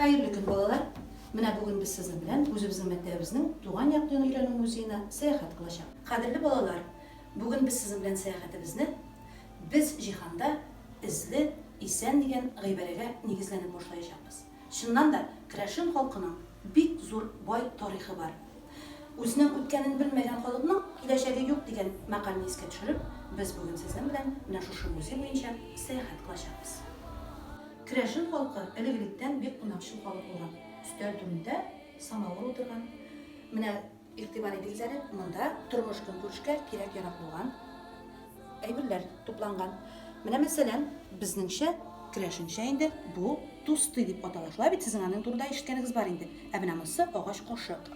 Хәерле көн, балалар! Менә бүген без сезнең белән үзебезнең мәктәбебезнең туган як дөнья өйрәнү музеена сәяхәт кылачак. Кадерле балалар, бүген без сезнең белән сәяхәтебезне без җиһанда эзле, исән дигән гыйбарәгә нигезләнеп башлаячакбыз. Чыннан да, керәшен халкының бик зур, бай тарихы бар. Үзенең үткәнен белмәгән халыкның киләчәге юк дигән мәкальне искә төшереп, без бүген сезнең белән менә шушы музей буенча сәяхәт кылачакбыз. Керәшен халкы элек-электән бик кунакчыл халык булган. Өстәл түрендә самавыр утырган. Менә. Игътибар итегезләре, монда тормыш көнкүрешкә кирәк-ярак булган әйберләр тупланган. Менә мәсәлән, безнеңчә, керәшенчә инде бу тусты дип атала. Шулай бит сезнең аның турында ишеткәнегез бар инде. Ә менә монысы агач кашык.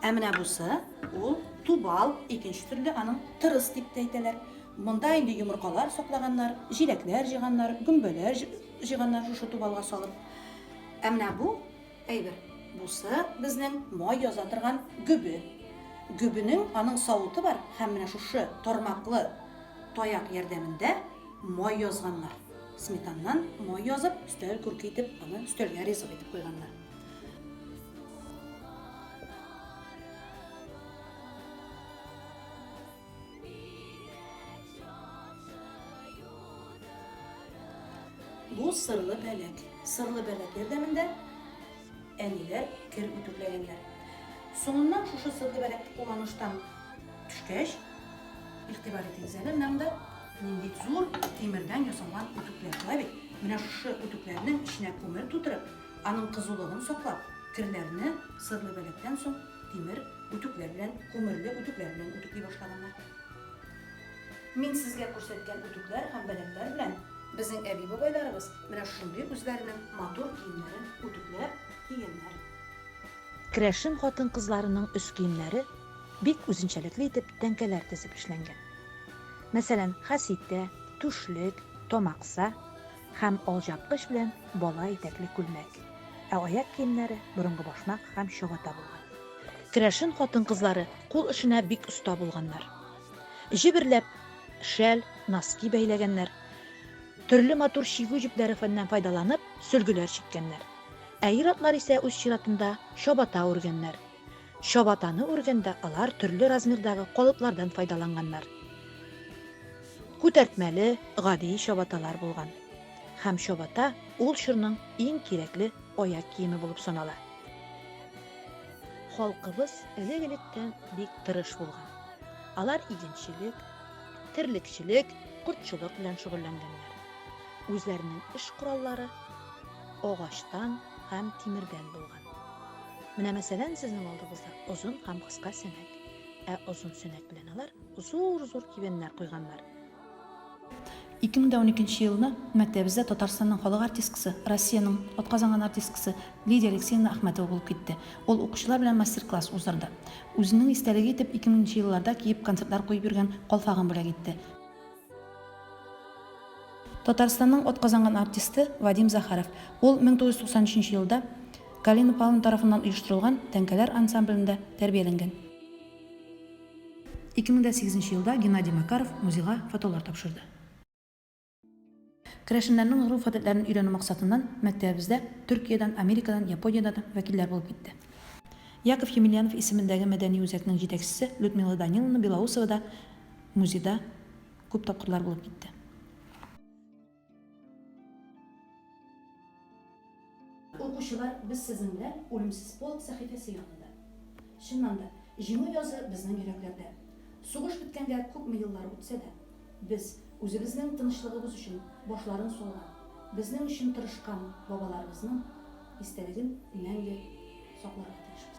Ә менә бусы ул тубал, икенче төрле аның тырыс дип тә әйтәләр. Монда инде йомыркалар саклаганнар, җиләкләр җыганнар, гөмбәләр җыганнар шушы тубалга салып. Ә менә бу Әйбер. Бусы, безнең май яза торган гөбе. Гөбенең аның савыты бар һәм менә шушы тармаклы таяк ярдәмендә май язганнар. Сметаннан май язып, өстәл күрке итеп, аны өстәлгә ризык итеп куйганнар. Бу сырлы бәләк. Сырлы бәләк ярдәмендә әниләр кер үтүкләгәннәр. Соңыннан шушы сырлы бәләк кулланыштан төшкәч, игътибар итегез әле, менә монда нинди зур тимердән ясалган үтүкләр була бит. Менә шушы үтүкләрнең эченә күмер тутырып, аның кызулыгын саклап, керләрне сырлы бәләктән соң Тимер үтүкләр белән, күмерле үтүкләр белән үтүкли башлаганнар. Мин сезгә күрсәткән үтүкләр һәм бәләкләр белән безнең әби-бабайларыбыз менә шундый үзләренең матур киемнәрен үтүкләп кигәннәр. Керәшен хатын-кызларының өс киемнәре бик үзенчәлекле итеп тәңкәләр тезеп эшләнгән. Мәсәлән, хәситә, түшлек, тамакса. һәм алҗапкыч белән бала итәкле күлмәк, ә аяк киемнәре борынгы башмак һәм чабата булган. Керәшен хатын-кызлары кул эшенә бик оста булганнар. Җеберләп шәл, носки бәйләгәннәр, төрле матур чигү җепләре фәннән файдаланып, сөлгеләр чиккәннәр. Ә ир-атлар исә үз чиратында чабата үргәннәр. Чабатаны үргәндә алар төрле размердагы калыплардан файдаланганнар. Күтәртмәле, гади чабаталар булган. Һәм чабата ул чорның иң кирәкле аяк киеме булып санала. Халкыбыз элек-электән бик тырыш булган. Алар игенчелек, терлекчелек, кортчылык белән шөгыльләнгәннәр. Үзләренең эш кораллары агачтан һәм тимердән булган. Менә мәсәлән, сезнең алдыгызда озын һәм кыска сәнәк. Ә озын сәнәк белән алар зур-зур кибәннәр куйганнар. 2012 елны мәктәбебездә Татарстанның халык артисткасы, Россиянең атказанган артисткасы Лидия Алексеевна Ахмәтова булып китте. Ул укучылар белән мастер-класс уздырды. Үзенең истәлеге итеп 2000 нче елларда киеп концертлар куеп йөргән калфагын бүләк итте. Татарстанның атказанган артисты Вадим Захаров. Ул 1993 елда Галина Павловна тарафыннан оештырылган тәңкәләр ансамблендә тәрбияләнгән. 2008 елда Геннадий Макаров музейга фотолар тапшырды. Керәшеннәрнең гореф-гадәтләрен өйрәнү максатыннан мәктәбебездә Төркиядән, Америкадан, Япониядән вәкилләр булып китте. Яков Емельянов исемендәге мәдәни үзәкнең җитәкчесе Людмила Даниловна Белоусова да музейда күп тапкырлар булып китте. Укучылар, без сезнең белән Үлемсез полк сәхифәсе янында. Чыннан да, Җиңү язы безнең йөрәкләрдә. Сугыш беткәнгә күпме еллар үтсә дә, без, үзебезнең тынычлыгыбыз өчен башларын салган, безнең өчен тырышкан бабаларыбызның истәлеген мәңге сакларга тиешбез.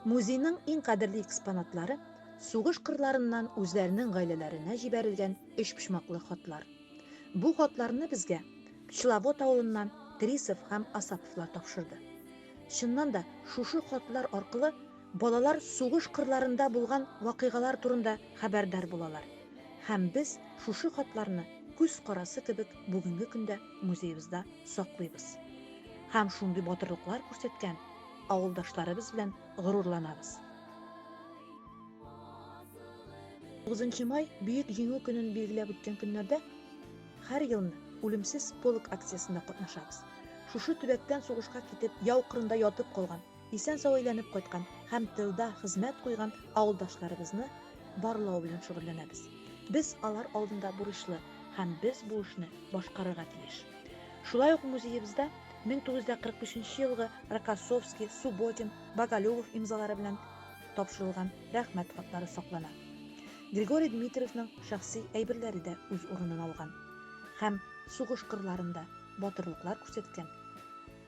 Музейның иң кадерле экспонатлары сугыш кырларыннан үзләренең гаиләләренә җибәрелгән өчпочмаклы хатлар. Бу хатларны безгә Пчеловод авылыннан Трисов һәм Асаповлар тапшырды. Чыннан да, шушы хатлар аркылы Балалар сугыш кырларында булган вакыйгалар турында хәбәрдар булалар. Һәм без шушы хатларны күз карасы кебек бүгенге көндә музеебызда саклыйбыз. Һәм шундый батырлыклар күрсәткән авылдашларыбыз белән горурланабыз. 9 май Бөек Җиңү көнен билгеләп үткән көннәрдә һәр елны Үлемсез полк акциясендә катнашабыз. Шушы төбәктән сугышка китеп, яу кырында ятып калган, Исән-сау әйләнеп кайткан һәм тылда хезмәт куйган авылдашларыбызны барлау белән шөгыльләнәбез. Без алар алдында бурычлы һәм без бу эшне башкарырга тиеш. Шулай ук музеебызда 1945 елгы Рокоссовский, Субботин, Боголюбов имзалары белән тапшырылган рәхмәт хатлары саклана. Григорий Дмитриевның шәхси әйберләре дә үз урынын алган һәм сугыш кырларында батырлыклар күрсәткән,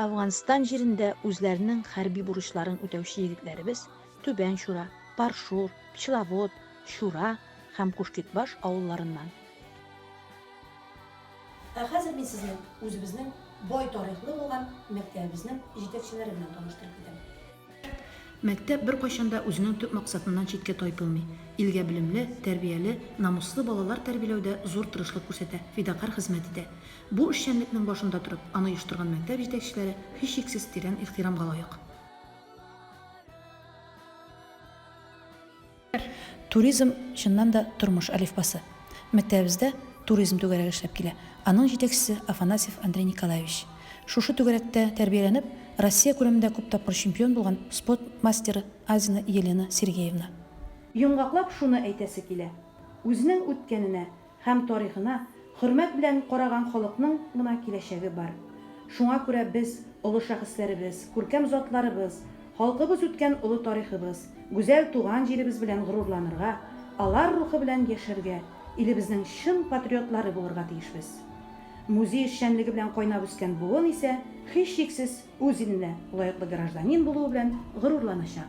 Әфганстан җирендә үзләренең хәрби бурычларын үтәүче егетләребез Түбән Чура, Паршур, Пчеловод, Чура һәм Кушкетбаш авылларыннан. Ә хәзер мин сезне үзебезнең бай тарихлы булган мәктәбебезнең җитәкчеләре белән таныштырып китәм. Мәктәп беркайчан да үзенең төп максатыннан читкә тайпылмый, илгә белемле, тәрбияле, намуслы балалар тәрбиләүдә зур тырышлык күрсәтә, фидакарь хезмәт итә. Бу эшчәнлекнең башында торып, аны оештырган мәктәп җитәкчеләре, һичшиксез, тирән ихтирамга лаек. Туризм, чыннан да, тормыш әлифбасы. Мәктәбебездә туризм түгәрәге эшләп килә. Аның җитәкчесе, Афанасьев Андрей Николаевич. Шушы түгәрәктә тәрбияләнеп, Россия күләмендә күп тапкыр чемпион булган спорт мастеры Азина Елена Сергеевна. Йомгаклап шуны әйтәсе килә, үзенең үткәненә, һәм тарихына хөрмәт белән караган халыкның гына киләчәге бар. Шуңа күрә без, олы шәхесләребез, күркәм затларыбыз, халкыбыз үткән олы тарихыбыз, гүзәл туган җиребез белән горурланырга, алар рухы белән яшәргә, илебезнең чын патриотлары булырга тиешбез. Музей эшчәнлеге белән кайнап үскән буын исә, һичшиксез, үз иленә лаеклы гражданин булуы белән горурланачак.